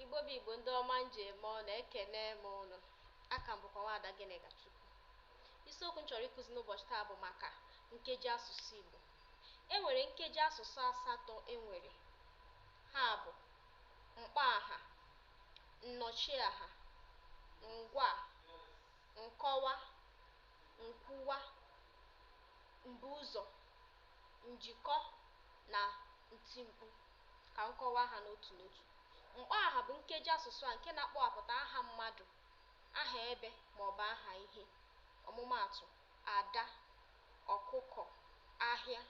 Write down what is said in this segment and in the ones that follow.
Igbo bụ Igbo ndị ọma m ji eme ọnụ, ekene m ụnụ. Aha m bụkwa Nwaada Gịnịkachukwu. Isiokwu m chọrọ ịkụzi n'ụbọchị taa bụ maka nkeji asụsụ Igbo. E nwere nkeji asụsụ asatọ e nwere. Ha bụ mkpọaha, nnọchiaha, ngwaa, nkọwa, nkwuwa, mbuụzọ, njikọ na ntimkpu. Ka m kọwaa ha n'otu n'otu. Mkpọaha bụ nkeji asụsụ a nke na-akpọwapụta aha mmadụ, aha ebe ma ọ bụ aha ihe. Ọmụmaatụ, ada, ọkụkọ, ahịa.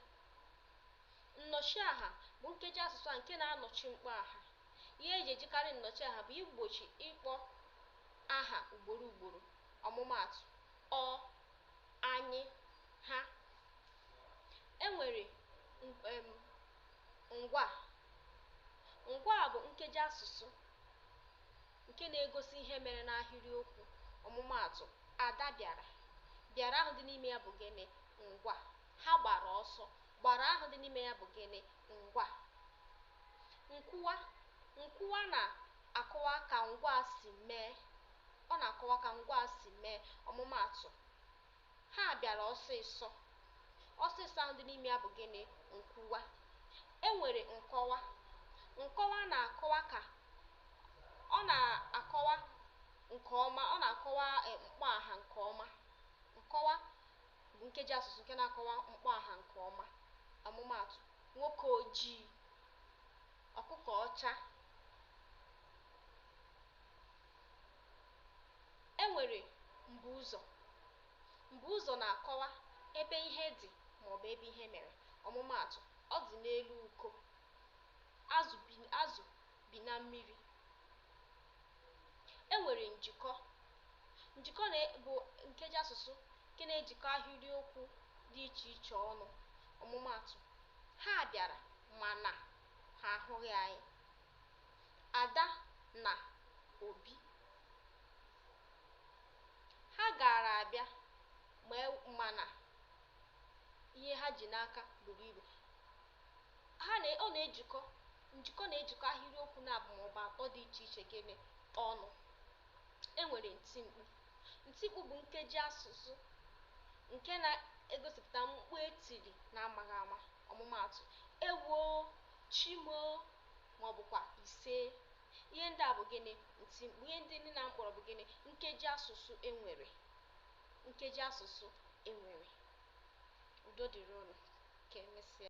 Nnọchiaha bụ nkeji asụsụ a nke na-anọchi mkpọaha. Ihe e ji ejikarị nnọchiaha bụ igbochi ịkpọ aha ugboro ugboro. Ọmụmaatụ, ọ, anyị, ha. E nwere um Ngwaa. Ngwaa bụ nkejiasụsụ nke na-egosi ihe mere n'ahịrịokwu. Ọmụmaatụ, Ada bịara. Bịara ahụ dị n'ime ya bụ gịnị? Ngwaa. Ha gbara ọsọ. Gbara ahụ dị n'ime ya bụ gịnị? Ngwaa. Nkwuwa. Nkwuwa na-akọwa ka ngwaa si mee. Ọ na-akọwa ka ngwaa si mee. Ọmụmaatụ, Ha bịara ọsịsọ. Ọsịsọ ahụ dị n'ime ya bụ gịnị? Nkwuwa. E nwere nkọwa. Nkọwa na-akọwa ka ọ na-akọwa nke ọma, ọ na-akọwa e, mkpọaha nke ọma. Nkọwa bụ nkeji asụsụ nke na-akọwa mkpọaha nke ọma. Ọmụmaatụ, nwoke ojii, ọkụkọ ọcha. E nwere mbuụzọ. Mbuụzọ na-akọwa ebe ihe dị maọbụ ebe ihe mere. Ọmụmaatụ, Ọ dị n'elu uko. Azụ bi Azụ bi na mmiri. E nwere njikọ. Njikọ na bụ nkejiasụsụ nke na-ejikọ ahịrịokwu dị iche iche ọnụ. Ọmụmaatụ, Ha bịara mana ha ahụghị anyị. Ada na Obi. Ha gaara abịa ma e mana ihe ha ji n'aka buru ibu. Ha na ọ na-ejikọ njikọ na-ejikọ ahịrịokwu naabụ maọbụ atọ dị iche iche gịnị ọnụ. E nwere ntimkpu. Ntimkpu bụ nkeji asụsụ nke na-egosipụta mkpu e tiri n'amaghị ama. Ọmụmaatụ, Ewoo! Chi moo! ma ọ bụkwa Isee! Ihe ndị a bụ gịnị? Ntimkpu. Ihe ndị niile a m kpọrọ bụ gịnị? Nkeji asụsụ e nwere. Nkeji asụsụ e nwere. Udo dịrị unu. Ka emesịa.